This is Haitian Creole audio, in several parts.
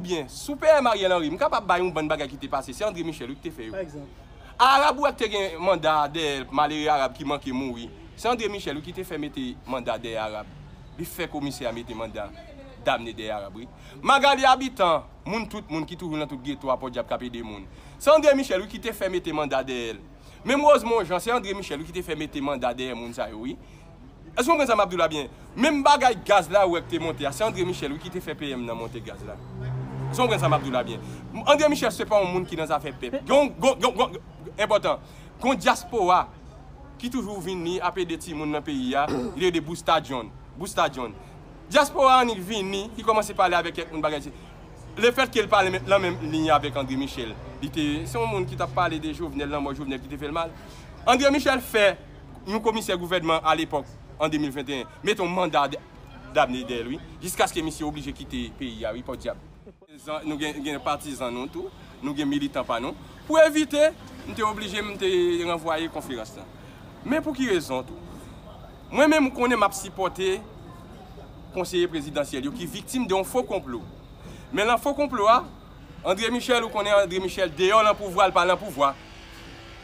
Byen, sou PM Ariel Henry, m kapab bay yon bann bagay ki te pase, se André Michel wi ki te fè yo. A Arab ou wè ki te gen manda a dèyè l, malere Arab ki manke mouri, se André Michel wi ki te fè mete manda dèyè Arab, li fè komisè a mete manda damne dèyè Arab wi. Magalie Habitant, moun tout moun ki toujou nan tout geto a pòdyab k ap ede moun, se André Michel wi ki te fè mete manda dèyè l. Menm Rosemon Jean, se André Michel wi ki te fè mete manda dèyè moun sa yo wi. Èske nou konprann sa m ap di w la byen? Menm bagay gaz la ou wè k te monte a, se Andre Michel wi ki te fè PM nan monte gaz la. Èske nou konprann sa m ap di w la byen? Andre Michel se pa yon moun ki nan zafè pèp. Gen yon, gen yon, enpòtan, gen yon dyaspora ki toujou vini ap ede timoun nan peyi a, li te rele Busta John, Busta John. Dyaspora annik vini, li kòmanse pale avèk kèk moun bagay si. Lefètke l pa nan menm liy avèk Andre Michel, li te, se yon moun ki t ap pale de Jovenel, lanmò Jovenel ki te fè l mal. Andre Michel fè. yon komisè gouvènman alepòk an 2021 mete yon manda damne dèyèl wi jiskaske misye oblije kite peyi a wi pòdyab. Nou gen patizan nou tou, nou gen militan pa nou. Pou evite, m te oblije m te ranvwaye konferans lan. Men pou ki rezon tou? Mwen menm ou konnen m ap sipòte konseye prezidansyèl yo ki viktim de yon fo konplo. Men lan fo konplo a. Andre Michel ou konnen Andre Michel deyò lan pouvwa li pa lan pouvwa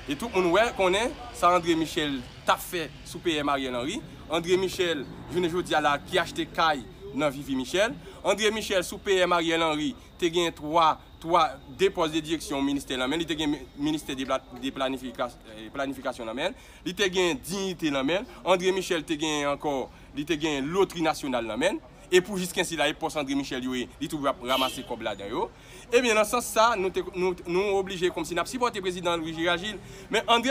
e tout moun wè konnen sa Andre Michel tap fè sou PM Ariel Henry Andre Michel jounen jodia la ki achte kay nan vivi Michel Andre Michel sou PM Ariel Henry te gen 3 3 2 pòs de direksyon ministè lan menl li te gen ministè de planifikasyon lan menl li te gen dignite lan menl Andre Michel te gen ankò li te gen lotri nasyonal lan menl E pou jisken sila e pòs André Michel yo ye, li toujou ap ramase kòb ladan yo. Ebyen nan sans sa, nou te, nou, nou oblije kòmsi n ap sipòte prezidan Louis Girard Gilles. Men André.